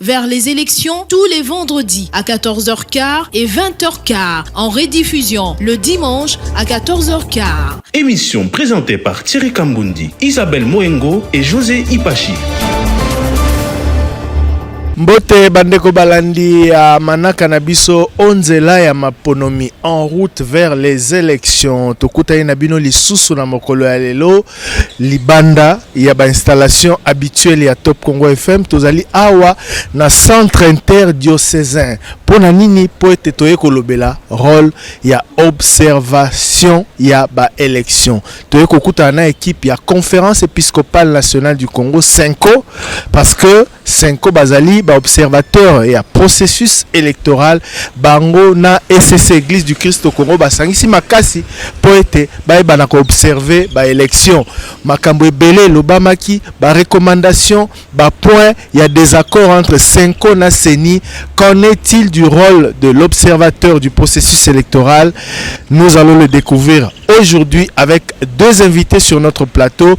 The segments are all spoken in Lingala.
vers les élections tous les vendredis à 14h15 et 20h15 en rediffusion le dimanche à 14h15. Émission présentée par Thierry Kambundi, Isabelle Moengo et José Ipachi. mbote bandeko balandi ya manaka na biso o nzela ya maponomi en route vers les élections tokutani na bino lisusu na mokolo ya lelo libanda ya ba installation habituelle ya Top Congo FM tozali awa na centre interdiocesain mpo na nini mpo ete toye kolobela role ya observation ya ba élection toye kokutana na equipe ya conférence episcopale nationale du Congo Senco parce que Cenco bazali ba observateurs ya processus electoral, bango na ECC, Eglise du Christ au Congo, basangisi makasi mpo ete bayeba na ko observer ba elections. Makambo ebele elobamaki, ba recommandations, ba points ya desaccord entre Cenco na ceni. Qu'en est-il du role de l'observateur du processus electoral? Nous allons le decouvrir aujourd'hui avec deux invites sur notre plateau.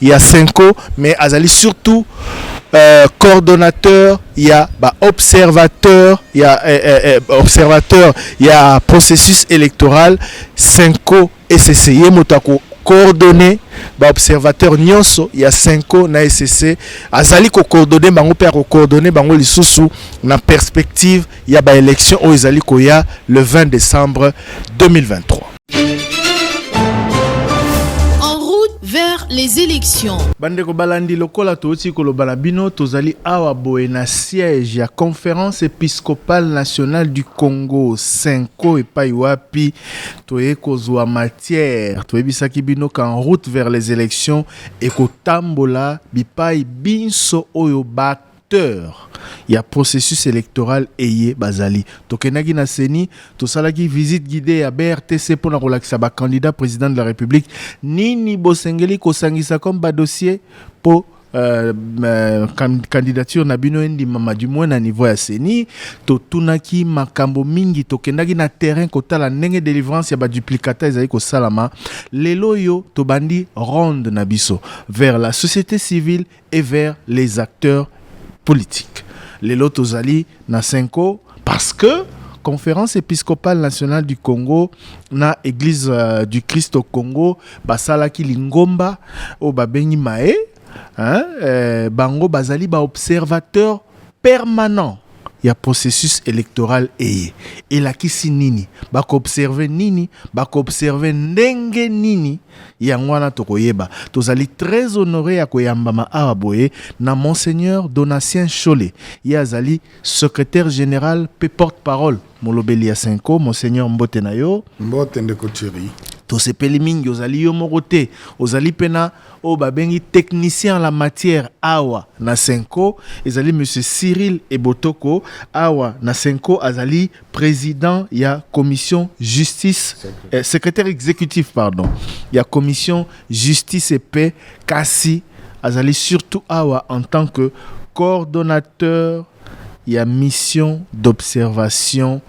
ya Senko mais azali surtout euh, coordonnateur ya ba observateur ya eh, eh, eh, observateur ya processus électoral Senko ECC ye moto ako coordonner ba observateur nyonso ya Senko na ECC azali ko coordonner bango pe ako coordonner bango lisusu na perspective ya ba élection oyo ezali koya le 20 décembre 2023 vers les élections. Bandeko balandi lokola touti koloba na bino tozali awa boye na siège ya conférence épiscopale nationale du Congo Senko epai wapi toye kozwa matière toyebisaki bino qu'en route vers les élections ekotambola bipai binso oyo ba acteurs ya processus electoral eye bazali. Tokendaki na ceni, tosalaki visite guidee ya BRTC mpo na kolakisa ba candidats President de la Republique nini bosengeli kosangisa comme ba dossiers mpo Euh, euh, candidature na bino endimama du moins na niveau ya ceni totunaki makambo mingi tokendaki na terrain kotala ndenge délivrance ya baduplicata ezali kosalama lelo oyo tobandi ronde na biso vers la société civile et vers les acteurs politiques. Lelo tozali na Senko parce que Conférence épiscopale nationale du Congo na Église euh, du Christ au Congo basalaki lingomba oyo babengi mae hein, euh, bango bazali baobservateur permanent ya processus electoral eye. Elakisi nini? Ba ko observer nini? Ba ko observer ndenge nini? Yango wana tokoyeba. Tozali très honore ya koyambama awa boye na Monseigneur Donatien Nshole. Ye azali Secretaire general mpe porte-parole Molobeli ya cenco, Monseigneur mbote na yo. Mbote ndeko Thierry. Tosepeli mingi ozali yo moko te, ozali mpe na oyo babengi technicien en la matière awa na cenco, ezali monsieur Cyril Ebotoko, awa na cenco azali president ya commission justice, eh, secretaire executif pardon ya commission justice et paix, kasi azali surtout awa en tant que coordonnateur ya Mission d'observation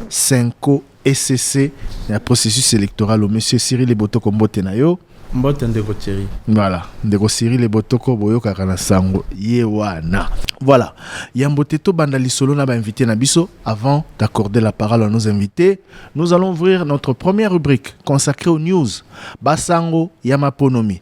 Cenco ecc ya processus electoral oyo Monsieur Cyrille Ebotoko mbote na yo. Mbote ndeko Thierry. Voilà ndeko Cyrille Ebotoko boyokaka na sango ye wana. Voilà yambo te tobanda lisolo na ba invités na biso avant d'accorder la parole à nos invités nous allons ouvrir notre première rubrique consacrée aux news ba sango ya maponomi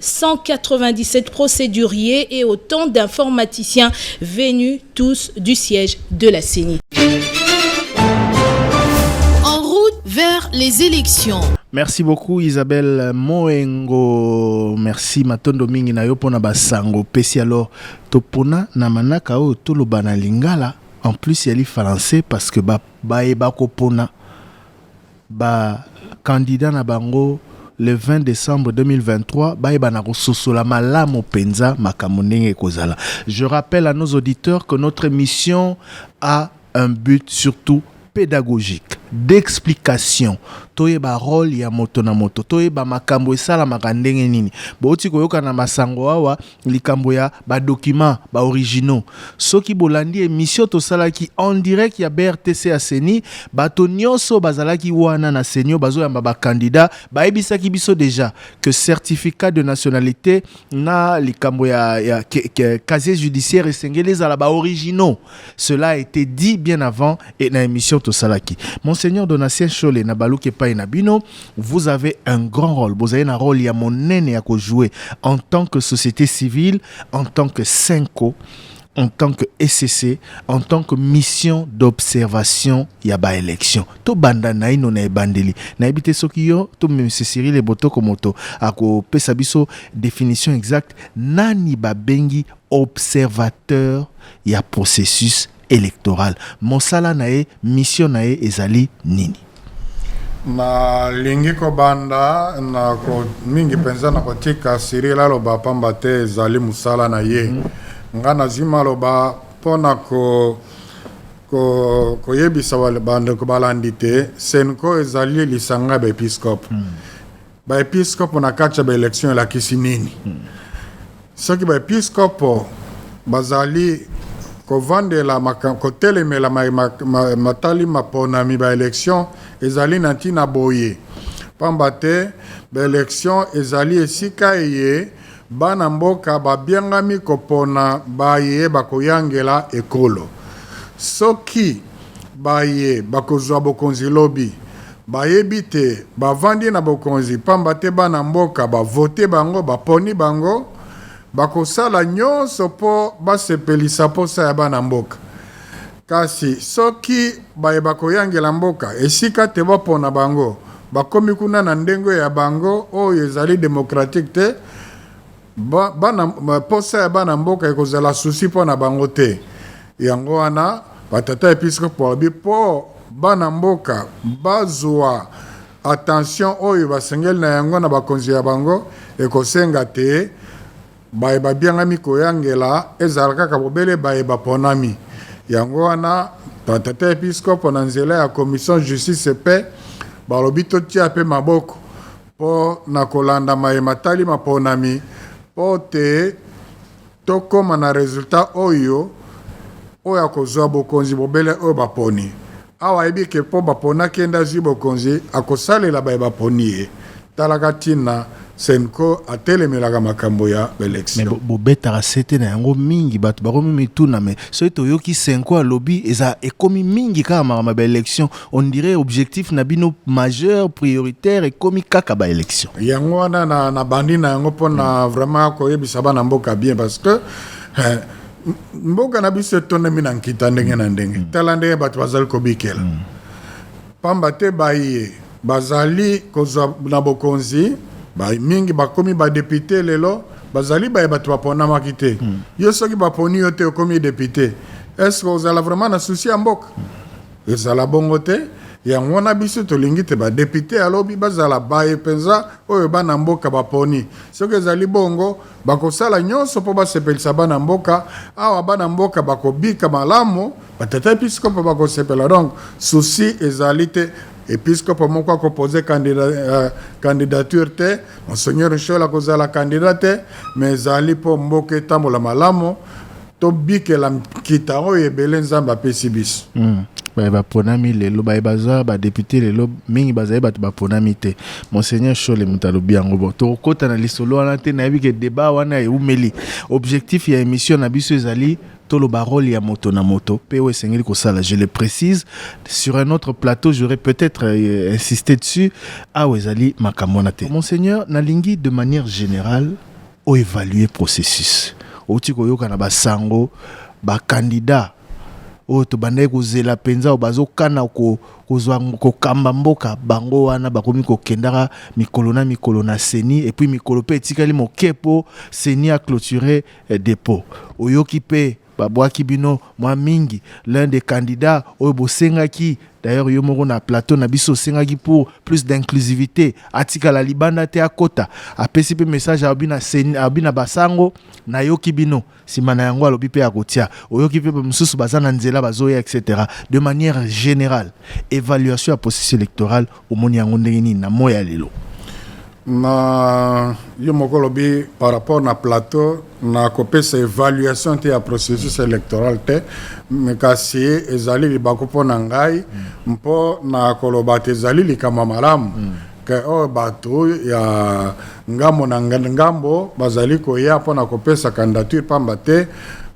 197 procéduriers et autant d'informaticiens venus tous du siège de la CENI. En route vers les élections. Merci beaucoup Isabelle Moengo. Merci matondo mingi na yo pona basango pesi alors topona na manaka oyo toloba na lingala en plus yali français parce que ba baye bakopona Ba candidats na bango le 20 decembre 2023 bayeba na kososola malamu mpenza makambo ndenge ekozala. Je rappelle à nos auditeurs que notre émission a un but surtout pédagogique d'explication toyeba role ya moto na moto toyeba makambo esalamaka ndenge nini bouti koyoka na masango awa likambo ya ba documents ba originaux soki bolandi emission tosalaki en direct ya BRTC ya ceni bato nioso bazalaki wana na ceni oyo bazoyamba ba candidats bayebisaki biso dejà que certificat de nationalite na likambo ya, ya ke, ke, casier judiciaire esengeli ezala ba originaux cela a été dit bien avant et na emission tosalaki monseigneur donatien shole na baluki epai na bino vous avez un grand rôle bozali na rôle ya monene ya kojouer en tant que société civile en tant que senco en tant que ECC, en tant que mission d'observation ya ba élection. To banda naino na ebandeli. Na ebite soki yo to M. Cyril Ebotoko moto ako pesa biso définition exacte nani ba bengi observateur ya processus electorale. Mosala na ye, mission na ye ezali nini? nalingi kobanda na ko, mingi mpenza na kotika sirila aloba pamba te ezali mosala na ye mm -hmm. ngai nazwi maloba mpo na ko ko, koyebisa bandeko balandi te senko ezali lisanga ya baepiskope mm. Baepiskopo na kati ya baelection elakisi nini? Hmm. Soki baepiskopo bazali kovandela kotelemela matali maponami baelection ezali na ntina boye mpamba te baelection ezali esika eye Bana mboka babiangami kopona baye bakoyangela ekolo. Soki baye bakozua bokonzi lobi bayebi te bavandi na bokonzi pamba te bana mboka ba vote bango, baponi bango, bakosala nionso po basepelisa posa ya bana mboka. Kasi soki baye bakoyangela mboka esika te bopona bango bakomi kuna na ndenge ya bango oyo ezali democratique te, bana posa ya bana mboka ekozala souci pona bango te. Yango wana ba tata episkopo balobi po bana mboka bazua attention oyo basengeli na yango na bakonzi ya bango ekosenga te, Baye babiangami koyangela ezala kaka bobele baye baponami. Yango wana, Tata Episkopo na nzela ya Commission Justice et Paix balobi totia pe maboko po na kolanda maye matali maponami po te tokoma na resultat oyo, oyo akozua bokonzi bobele oyo baponi. Awa ayebi ke po bapona kende azui bokonzi akosalela baye baponi ye talaka tina cenco atelemelaka makambo ya ba election. Mais bobetaka sete na yango mingi batu bakomi mituna mais soki toyoki cenco alobi eza ekomi mingi kaka makambo ya ba election on dirait objectif na bino majeur prioritaire ekomi kaka ba election. Yango wana na bandi na yango pona vraiment koyebisa bana mboka bien parce que eh, mboka na biso etondami na nkita ndenge na ndenge mm. tala ndenge bato bazali kobikela mm. pamba te baye bazali kozwa na bokonzi ba mingi bakomi badepute lelo bazali baye bato baponamaki te mm. yo soki baponi yo te okomi depute estce ozala vraiment na susi ya mboka mm. ezala bongo te yango wana biso tolingi te badepute ya lobi bazala baye mpenza oyo bana mboka baponi soki ezali bongo Bakosala nyonso mpo basepelisa bana mboka. Awa bana mboka bakobika malamu, batata episkopo bakosepela. Donc souci ezali te, episkopo moko akopoze candidature euh, te, Monseigneur Nshiola akozala candidat te, mais ezali mpo mboka etambola malamu. Tobikela nkita oyo ebele Nzambe apesi biso. Baye baponami lelo, baye bazwa ba deputes lelo mingi bazali bato baponami te. Monseigneur Shole moto alobi yango. Bon, tokokota na lisolo wana te, nayebi que debat wana ewumeli. Objectif ya emission na biso ezali toloba role ya moto na moto mpe oyo esengeli kosala. Je le precise, sur un autre plateau j'aurais peut-etre insiste dessus, awa ezali makambo wana te. Monseigneur, nalingi de manière generale, o evaluer processus owuti koyoka na ba sango ba candidats oyo tobandaki kozela mpenza oyo bazokana kozwa kokamba mboka bango wana bakomi kokendaka mikolo na mikolo na seni epuis mikolo mpe etikali moke mpo seni a clotire eh, depot oyoki mpe Ba bwaki bino mwa mingi l'un des candidats oyo bo sengaki d'ailleurs yo moko na plateau na biso osengaki pour plus d'inclusivite atikala libanda te akota apesi pe message alobi na ceni alobi na ba sango na yoki bino sima na yango alobi pe akotia oyoki pe ba misusu baza na nzela bazoya etc de maniere generale evaluation ya processus electoral Omoni yango ndenge nini na moi ya lelo? Na yo moko olobi par rapport na plateau na kopesa evaluation te ya processus électoral te kasi ezali libaku mpo na ngai mpo na koloba te ezali likambo malamu mm. ke oyo oh, bato ya ngambo na ngambo bazali koya mpo na kopesa candidature mpamba te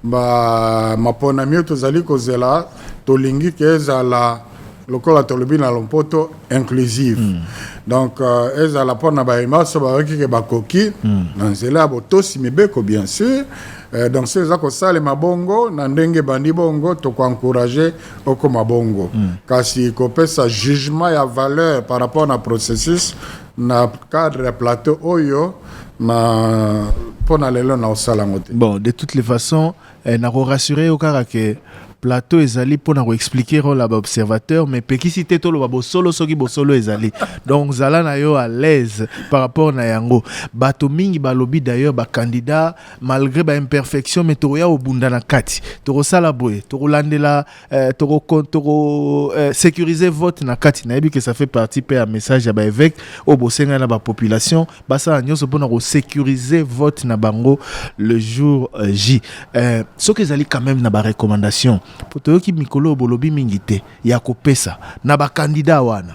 maponami oyo tozali kozela tolingi ke ezala lokola tolobi na lompoto inclusive mm. donc uh, ezala mpo na baye nyonso bayoki ke bakoki mm. na nzela ya botosi mibeko bien sûr uh, donc soki eza kosalema bongo na ndenge ebandi bongo tokoencourage okoma bongo mm. kasi kopesa jugement ya valeur par rapport na processus na cadre ya plateau oyo na mpo na lelo na osala yango te bon de toutes les façons Eh, na ko rassurer yo kaka ke plateau ezali mpo na ko expliquer role ya ba observateur mais pekisi te toloba bosolo soki bosolo ezali donc zala na yo à l'aise par rapport na yango bato mingi balobi d'ailleurs ba candidat malgré ba imperfection mais tokoya kobunda na kati tokosala boye tokolandela Euh, toko toko euh, sécuriser vote na kati nayebi que ça fait partie mpe ya message ya baevêque oyo bosengai na bapopulation basala nyonso mpona kosécuriser vote na bango le jour euh, j euh, soki ezali quand même na barecommandation mpo toyoki mikolo oyo bolobi mingi te ya kopesa na bakandida wana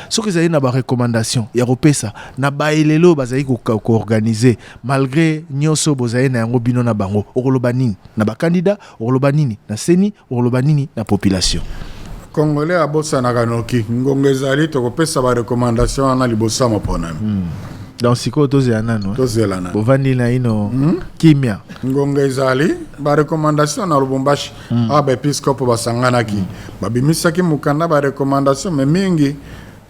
soki ezali na barecommandation ya kopesa na baelele oyo bazali koorganize malgré nyonso bozali na yango bino na bango okoloba nini na bakandida Okoloba nini na seni, okoloba nini na population? Congolais abosanaka noki, ngonga ezali tokopesa ba recommandation wana liboso ya maponami. Hmm. Donc sikoyo tozela nano, eh? tozela nano, bovandi na ino hmm? kimia. Ngonga ezali ba recommandation na Lubumbashi hmm. awa ba episkopo basanganaki, babimisaki mokanda ba recommandation me mingi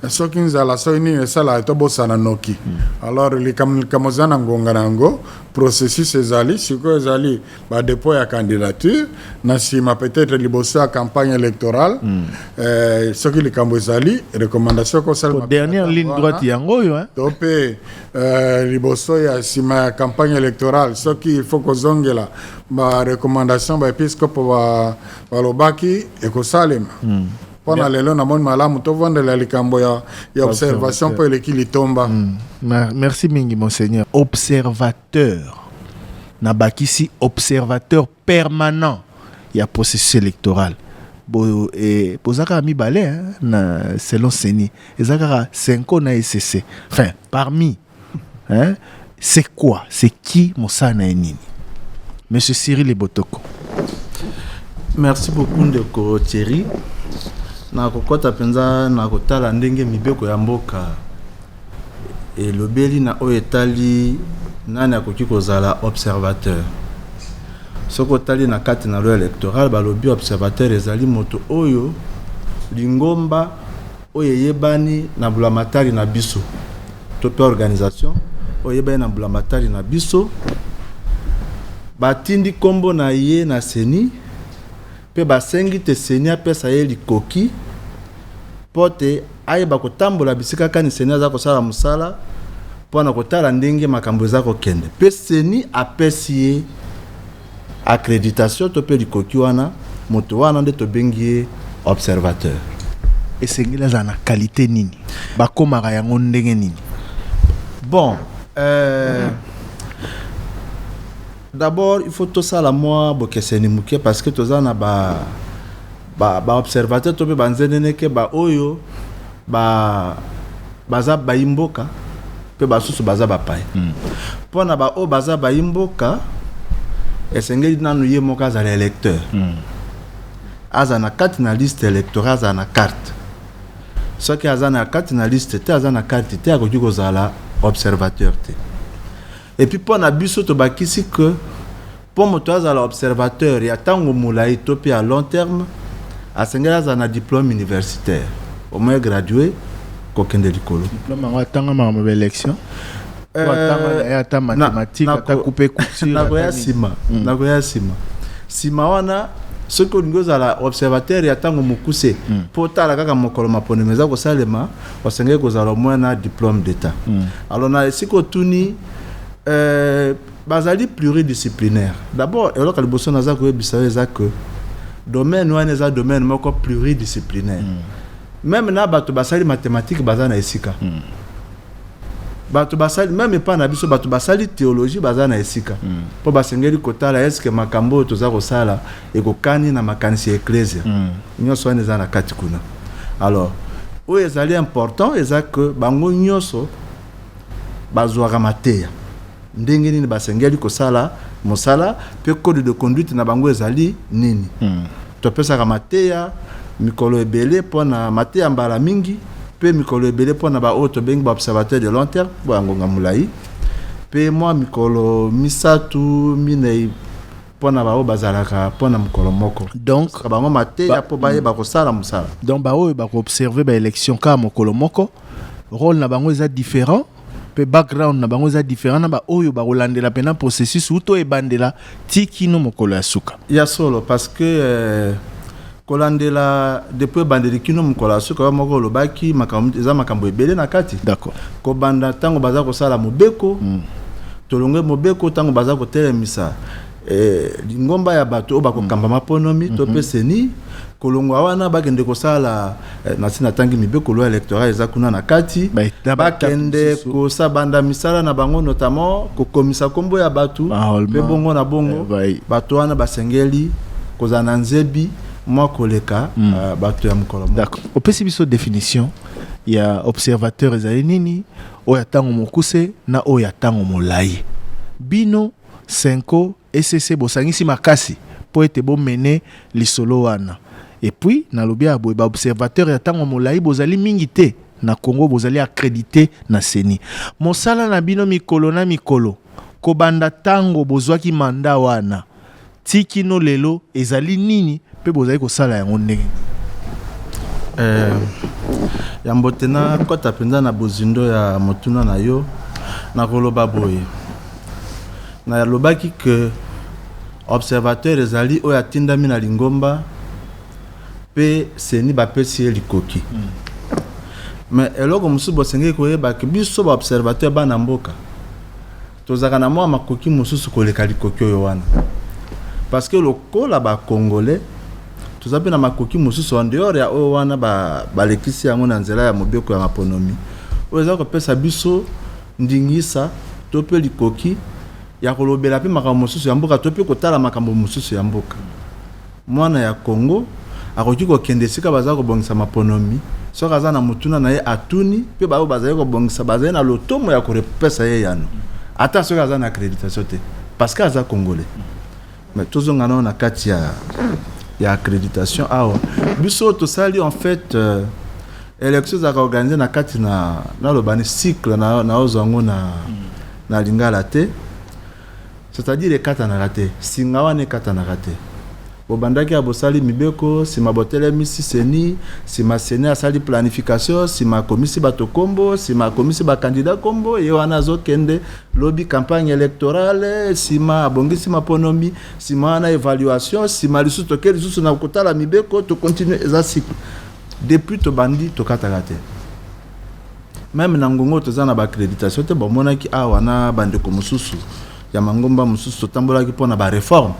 soki nzala soki nini esalaka tobosana noki alors likambo likambo eza na ngonga na yango processus ezali sikoyo ezali badepot ya candidature na nsima peut-être liboso ya campagne électorale mm. eh, soki likambo ezali recommandation ekosalema dernière ligne droite yango oyo hein? to mpe eh, liboso ya nsima ya campagne électorale soki il faut kozongela barecommandation baepiskopo balobaki ekosalema mm. mpo na lelo namoni malamu tovandela likambo ya, ya observation mpo eleki litomba mm. merci mingi monseigneur observateur nabakisi observateur permanent ya processus électoral bo eh, boza kaka mibale hein, na selon seni eza kaka senko na esese enfin parmi hein c'est quoi c'est qui mosala na ye nini monsieur cyril ebotoko merci beaucoup ndeko thierry nakokɔta mpenza na kotala ndenge mibeko ya mboka elobeli na oyo etali nani akoki kozala observateur soki otali na kati na loi électorale balobi observateur ezali moto oyo lingomba oyo eyebani na bulamatari na biso to pe organisation oyo eyebani na bulamatari na biso batindi kombo na ye na seni pe basengi te seni apesa ye likoki po te ayeba kotambola bisika kani seni aza kosala mosala pona kotala ndenge makambo eza kokende pe seni apesi ye Accreditation to pe likoki wana moto wana nde tobengi ye observateur. Esengeli azala na qualite nini? Bakomaka yango ndenge nini? Bon, euh, d'abord il faut tosala mwa bokeseni moke parce que toza na ba Ba ba observateurs to mpe ba nzeneneke ba oyo ba baza bayi mboka mpe basusu baza bapaya. Mpo na ba oyo baza bayi mboka esengeli nanu ye moko azala electeur, azala na kati na liste electorale, azala na carte. Soki aza na kati na liste te, aza na carte te, akoki kozala observateur te. Et puis mpo na biso tobakisi que Mpo moto azala observateur ya tango molayi to mpe ya long terme, asengeli azala na diplome universitaire, au moins gradue, kokende likolo. Diplome yango atangama ma ba elections? Ou atanga na ye ata mathematique, ata coupe couture? Nakoya sima, nakoya sima. Sima wana, soki olingi ozala observateur ya tango mokuse, mpo otala kaka mokolo maponami eza kosalema, osengeli kozala au moins na diplome d'Etat. Alors na esika otuni, Bazali pluridisciplinaire. D'abord, eloko ya liboso naza koyebisa yo eza que domaine wana eza domaine moko pluridisciplinaire. Mm. Meme na bato basali mathematique baza na esika. Mm. Bato basali meme epa na biso bato basali theologie baza na esika. Mm. Po basengeli kotala est-ce que makambo oyo toza kosala ekokani na makanisi ya eklezia. Mm. Nyonso wana eza na kati kuna. Alors, oyo ezali important eza que bango nyonso bazwaka mateya. ndenge nini basengeli kosala mosala mpe code de conduite na bango ezali nini. Hmm. Topesaka mateya mikolo ebele mpo na mateya mbala mingi mpe mikolo ebele mpo na baoyo tobengi ba observateur de long terme mpo ya ngonga molai mpe mwa mikolo misato minei mpo na baoyo bazalaka mpo na mokolo moko donc bango mateya mpo bayeba hmm. kosala mosala donc baoyo bakoobserve baélection kaka mokolo moko role na bango eza différent pe background na bango eza different na baoyo bakolandela pena processus uto ebandela ti kino mokolo ya suka ya solo parce que euh, kolandela depuis ebandeli kino mokolo ya suka yo moko olobaki makambo eza makambo ebele na kati d'accord kobanda ntango baza kosala mobeko mm. tolonge mobeko ntango baza kotelemisa eh, lingomba ya bato oyo bakokamba maponomi mm -hmm. to mpe mhm. seni kolongwa wana bakende kosala eh, nasi natangi mibeko loi électoral eza kuna na kati bakende kosa banda misala na bango notamment kokomisa nkombo ya bato mpe bongo na bongo eh, bato wana basengeli kozala na nzebi mwa koleka mm. uh, bato ya mokolo moko opesi biso définition ya observateur ezali nini oyo ya ntango mokuse na oyo ya ntango molai bino cenco, ecc bosangisi makasi po ete bo mener lisolo wana et puis nalobi awa boye ba observateurs ya tango molayi bozali mingi te na congo bozali accredite na ceni mosala na bino mikolo na mikolo kobanda tango bozuaki mandat wana Ti kino lelo ezali nini pe bozali kosala yango ndenge nini? Eh, ya mbote na kota mpenza na bozindo ya motuna na yo nakoloba boye nalobaki ke observateur ezali oyo atindami na lingomba mpe seni bapesi ye likoki mm. mais eloko mosusu bosengeli koyeba ke biso baobservateur bana mboka Tozalaka na mwa makoki mosusu koleka likoki oyo wana. Parce que lokola ba Congolais, toza mpe na makoki mosusu en dehors ya oyo wana ba balekisi yango na nzela ya mobeko ya maponomi oyo eza kopesa biso ndingisa to mpe likoki ya kolobela mpe makambo mosusu ya mboka to mpe kotala makambo mosusu ya mboka. Mwana ya Congo akoki kokende esika bazali kobongisa maponomi, soki aza na motuna na ye atuni, mpe baoyo bazali kobongisa bazali na lotomo ya kopesa ye eyano, ata soki aza na accreditation te, parce que aza Congolais. Mais tozonga nano na kati ya, ya accreditation awa. Biso tosali en fait euh, election ezalaka organise na kati na naloba ni cycle na naozwa yango na, na lingala te C'est à dire ekatanaka te? Singa wana ekatanaka te? Bobandaki awa bosali mibeko, sima botelemisi ceni, sima ceni asali planification, sima akomisi bato kombo, sima akomisi ba candidats kombo, ye wana azokende lobi campagne electorale, sima abongisi maponomi, sima wana evaluation, sima lisusu toke lisusu na kotala mibeko, to continuer eza cycle. Depuis tobandi tokataka te. Meme na ngongo toza na b'accreditation te bomonaki awa na bandeko mosusu ya mangomba mosusu totambolaki mpo na bareforme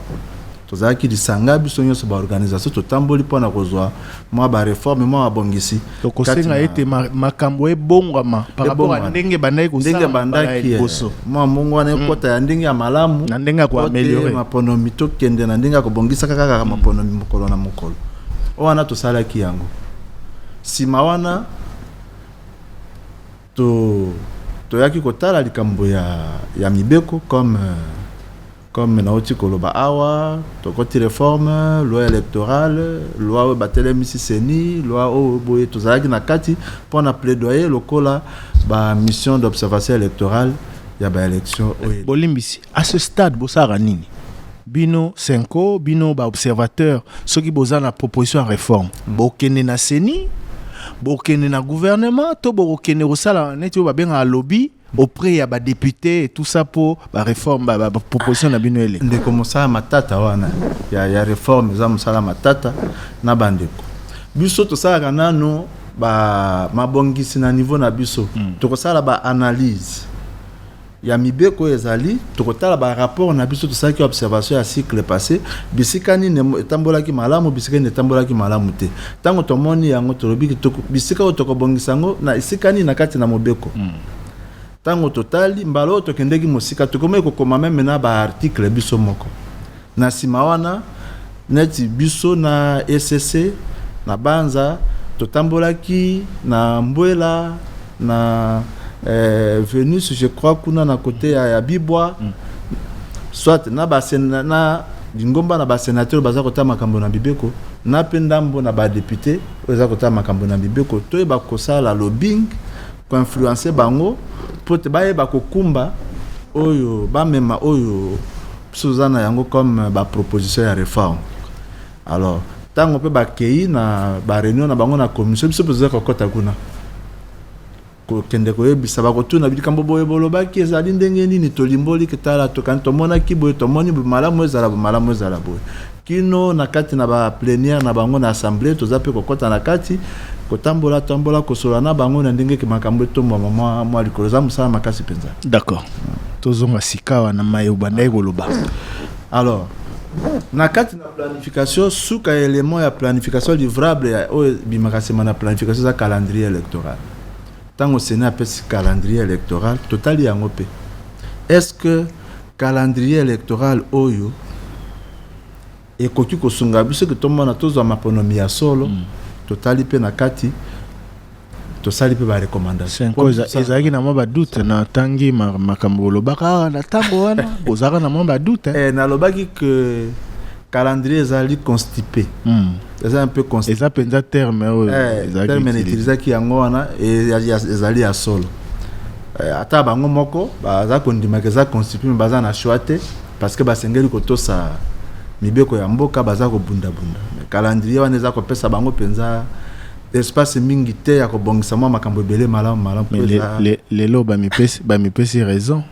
tozalaki lisanga biso nyonso baorganisation totamboli mpo na kozwa mwa bareforme mwa mabongisi tokosenga ete makambo ebongwama paraport ndenge bandaki kosala bandaki eh, mwa mbongo wana mm. ekota ya ndenge ya malamu na ndenge ya koameliore maponomi tokende na ndenge ya kobongisaka kaka maponomi mokolo na mokolo oyo wana tosalaki yango Sima wana to toyaki kotala likambo ya, ya mibeko comme comme nauti koloba awa tokoti reforme loi électorale loi oyo batelemisi seni loi oyo boye tozalaki na kati mpo na plaidoyer lokola ba mission d'observation électorale ya baélection oyo bolimbisi à ce stade bosalaka nini bino senko bino baobservateur soki boza na proposition ya réforme mm. bokende na ceni bokende na gouvernement to bokokende kosala neti oyo babengaka lobi auprès ya badepute et tout ça mpo bareforme baproposition na bino eleka ndeko mosala matata wana ya, ya réforme eza mosala matata na bandeko biso tosalaka nano ba mabongisi na niveau na biso mm. tokosala ba analyse ya mibeko ezali, tokotala ba rapports na biso tosalaki observation ya cycle passe, bisika nini etambolaki malamu, bisika nini etambolaki malamu te. Tango tomoni yango, tolobi ke toko, bisika oyo tokobongisa yango na esika nini na kati na mobeko. Tango totali, mbala oyo tokendeki mosika, tokomaki kokoma meme na ba articles biso moko. Na sima wana, neti biso na ECC, na Banza, totambolaki na Mbuela, na Venus, je crois, kuna na cote ya Bibwa, soit na ba, na lingomba na ba senateurs baza kotala makambo na mibeko, na mpe ndambo na ba deputes oyo eza kotala makambo na mibeko, toyeba kosala lobbying, ko influencer bango mpo ete bayeba kokumba oyo, bamema oyo biso toza na yango comme ba proposition ya reforme alors ntango mpe bakei na bareunion na bango na commission biso mpe toza kokɔta kuna kokende koyebisa bakotuna likambo boye bolobaki ezali ndenge nini tolimboli tala tokani tomonaki boye tomoni malamu ezala malamu ezala boye kino na kati na ba plenière na bango na assemblee, toza mpe kokota na kati kotambola tambola kosolola na bango na ndenge ke makambo etombwama mwa mwa likolo. Eza mosala makasi mpenza. D'accord, tozonga sikawa na maye obandaki koloba. Alors, na kati na planification suka ya element ya planification livrable ya oyo ebimaka nsima na planification eza calendrier électoral ntango seni apesi calendrier électoral totali yango mpe est ce que Calendrier electoral oyo ekoki kosunga biso ke tomona tozwa maponomi ya solo mm. totali mpe na kati tosali mpe barecommandation ezalaki na mwa badoute natangi makambo olobaka awa na ntango wana ozalaka na mwa badoute eh, nalobaki ke calendrier ezali constipe mm. eza un peu constant eza penza terme oyo eh, ezalaki terme utiliser. n'utilisaki yango wana e- ya- ya- ezali ya solo Eh, ata bango moko baza kondimaka eza constitue mais baza na choix te parce que basengeli kotosa mibeko ya mboka baza kobundabunda Mais calendrier wana eza kopesa bango mpenza espace mingi te ya kobongisa mwa makambo ebele malamu malamu Mais mpo le- eza- le- lelo bamipesi bamipesi raison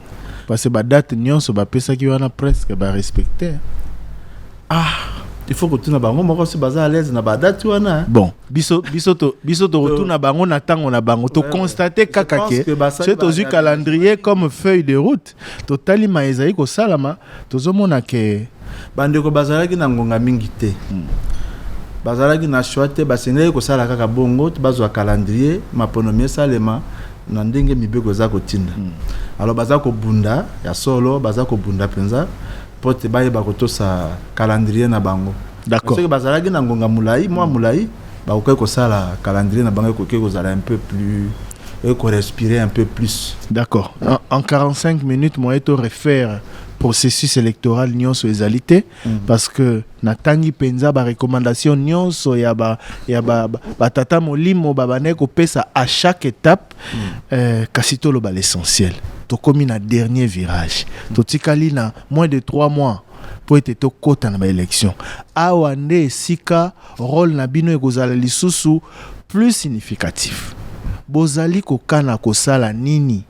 parce que ba date nyonso bapesaki wana presque ba respecter ah il faut kotuna bango moko si baza à l'aise na badati wana hein. bon biso biso to biso tokotuna bango na ntango na bango tokonstate kaka ke soki tozwi calendrier comme feuille de route totali ma ezali kosalama Tozomona que bandeko bazalaki na ngonga mingi te. Bazalaki na choix te, basengelaki kosala kaka bongo, bazwa calendrier, maponomi esalema na ndenge mibeko eza kotinda. Alors baza kobunda, ya solo, baza kobunda penza mpo ete bayeba kotosa calendrier na bango. D'accord. Soki bazalaki na ngonga mulayi, mwa mulayi, bakokaki kosala calendrier na bango ekoki kozala un peu plus et qu'on respirer un peu plus. D'accord. En, en 45 minutes, moi, et refaire processus électoral nyonso ezali te mm -hmm. parce que natangi mpenza barecommandation nyonso ya batata ba, ba, ba molimo babandaki kopesa à chaque étape mm -hmm. euh, kasi toloba l'essentiel tokomi na dernier virage mm -hmm. totikali na moins de 3 mois mpo ete tokɔta na baelection. Awa nde esika role na bino ekozala lisusu plus significatif. Bozali kokana kosala nini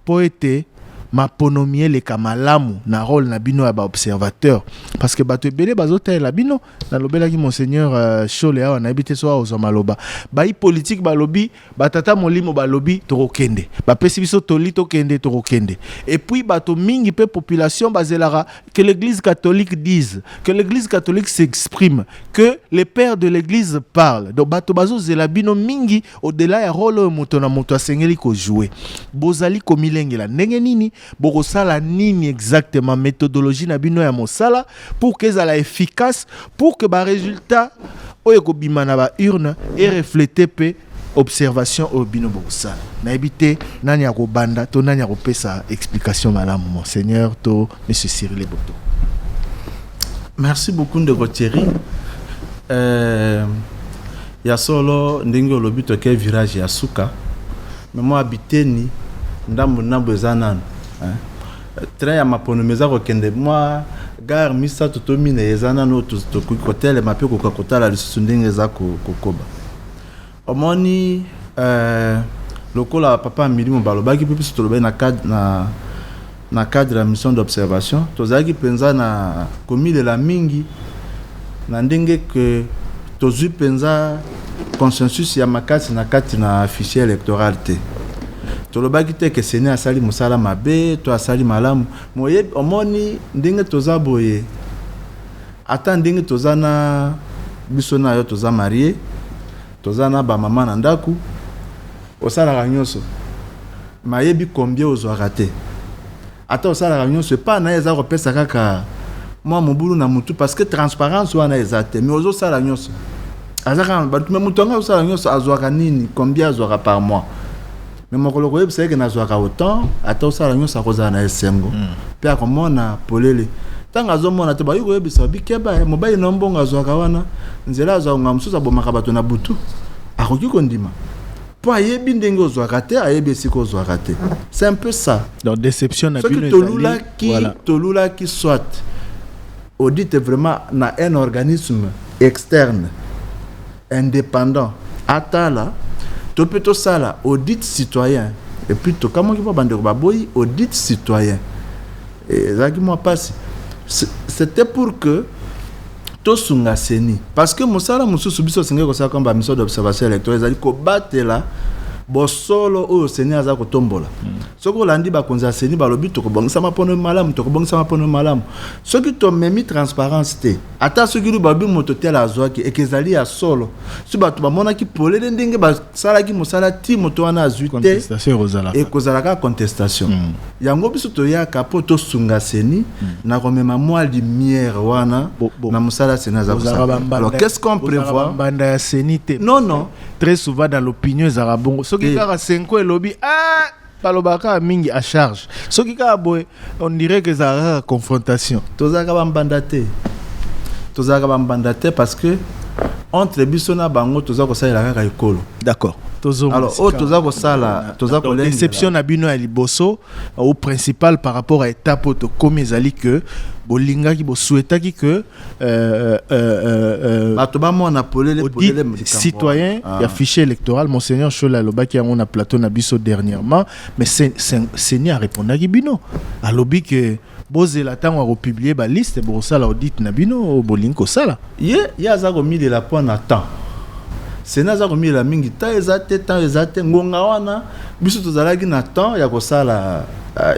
mpo ete maponomi eleka malamu na role na bino ya baobservateur parce que bato ebele bazotalela bino nalobelaki monseigneur euh, shole awa nayebi te so aozwa maloba bai politike balobi Batata molimo balobi tokokende, bapesi biso toli tokende, tokokende. Et puis bato mingi pe population bazelaka que l'église catholique dise, que l'église catholique s'exprime, que les pères de l'église parlent. Donc bato bazozela bino mingi au-delà ya role oyo moto na moto asengeli ko jouer. Bozali komilengela ndenge nini Bokosala nini exactement methodologie na bino ya mosala pour que ezala efficace pour que ba résultats oyo ekobima na ba urne e reflete pe observation oyo bino bokosala nayebi te nani akobanda to nani akopesa explication malamu monseigneur to monsieur Cyril Boto merci beaucoup ndeko Thierry euh... Ya solo ndenge olobi toke virage ya suka mais mua biteni ndambu ndambu eza nanu hein train ya maponomi eza kokende mua gare misatu to minei eza nanu oyo tokoki kotelema pe koka kotala lisusu ndenge eza kokoba omoni euh, lokola papa milimo balobaki pe biso tolobaki na cadre na Na cadre ya mission d'observation, tozalaki penza na komilela mingi na ndenge que tozui penza consensus ya makasi na kati na fichier electoral te. Tolobaki te que ceni asali mosala mabe to asali malamu, mais oyebi, omoni ndenge toza boye, ata ndenge toza na, biso na yo toza marier, toza na ba mama na ndaku, Osalaka nyoso mais ayebi combien ozwaka te. Ata osalaka nyoso epa naye eza kopesa kaka mua mobulu na mutu parce que transparence wana eza te mais ozo sala nyoso aza kaka na batu mais mutu yango azosala nyoso azwaka nini combien azwaka par mois mais mokolo koyebisa yeke nazwaka autant ata osala nyoso akozala na esengo hmm. pe akomona polele ntango azomona te bakoki koyebisa bikeba eh, mobali na mbongo azwaka wana nzela azwaka ngaa mosusu abomaka bato na butu akoki kondima mpo ayebi ndenge ozwaka te ayebi esika ozwaka te c'est un peu ça donc déception na bino tolulaki voilà. tolulaki soit audite vraiment na un organisme externe indépendant atala to mpe tosala audit citoyen epuis tokamwaki mpo bandeko baboyi audit citoyen Ezalaki mua pasi c'etait pour que tosunga ceni parce que mosala mosusu biso tosengeli kosala comme ba mission d'observation electorale ezali kobatela bosolo oyo ceni aza kotombola mm. soki olandi bakonzi ya ceni balobi tokobongisa mapono malamu tokobongisa mapono malamu soki tomemi transparence te ata soki lu balobi moto tele azwaki eke ezali ya solo soki bato bamonaki polele ndenge salaki mosala ti moto wana azwi te ekozala kaka contestation mm. yango biso toyaka mpo tosunga seni mm. na komema mwa lumière wana bo, bo. na mosala seni aza kosala alors qu'est-ce qu'on prévoit banda ya seni te non non très souvent dans l'opinion ezalaka bongo soki kaka senko elobi ah balobaka kaka mingi a charge soki kaka boye on dirait que ezalaka kaka confrontation tozalaka bambanda te tozalaka bambanda te parce que entre biso na bango toza kosalela kaka ekolo d'accord alors oyo toza kosala toza kodeception na bino ya liboso au principal par rapport à étape oyo tokomi ezali que bolingaki bosuetaki que Euh, euh, euh, bato bamona polele polele citoyen ah. ya fichier électoral monseigneur shola alobaki yango na plateau na biso dernièrement mais seni arépondaki bino alobi ke bozela ntango akopublie baliste bokosala audite na bino oyo bolingi kosala ye ye aza komilela mpo na temps sena aza komilela mingi temps eza te temps eza te ngonga wana biso tozalaki na temps ya kosala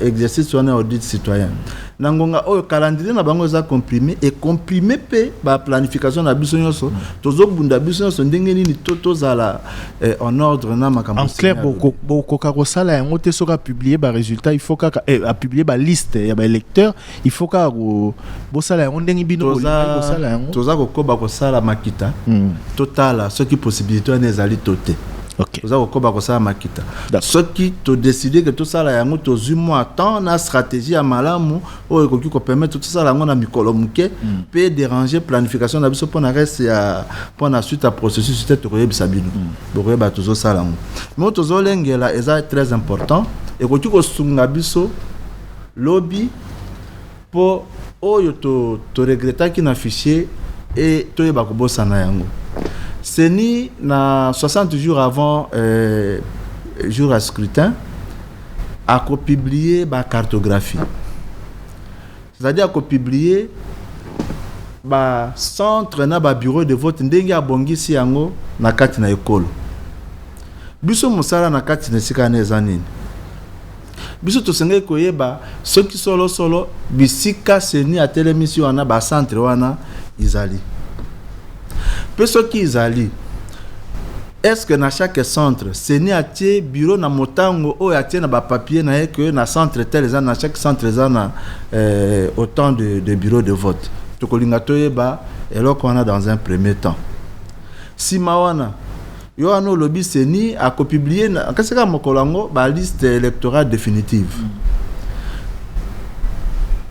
exercice wana ya audite citoyen Na ngonga oyo calendrier na bango eza comprime et comprime pe ba planification na biso nionso tozo bunda biso nionso ndenge nini to tozala eh, en ordre na makambo. En clair boko bokoka kosala yango te soka publier ba resultats il faut kaka eh, a publier ba liste ya ba électeurs il faut kaka ko bosala yango ndenge bino bolingi kosala yango. Toza kokoba kosala makita hmm. totala soki possibilité wana ezali to te. Okay. oza kokoba kosala makita soki todeside ke tosala yango tozwi mwa temps na stratégie ya malamu oyo ekoki kopermettre tosala yango na mikolo moke mpe hmm. déranger planification na biso mpo na reste ya mpo na suite ya processus te tokoyebisa bino hmm. bokoyeba tozosala yango mo tozolengela eza très important ekoki kosunga biso lobi Po oyo to to regrettaki na fichier et toyeba kobosana yango. Ceni na 60 jours avant jour ya scrutin ako publier ba cartographies. C'est à dire ako publier ba centres na ba bureaux de vote ndenge abongisi yango na kati na ekolo. Biso mosala na kati na esika wana eza nini? Biso tosengeli koyeba soki solo solo bisika ceni atelemisi wana ba centre wana izali pe soki izali est ce que na chaque centre ceni atie bureau na motango oyo atie na ba papier na ye que na centre tel eza na chaque centre eza na euh, autant de, de bureau de vote tokolinga toyeba eloko wana dans un premier temps sima wana Yo wana olobi ceni a ko publie na kasi kaka mokolo yango ba liste electorale definitive.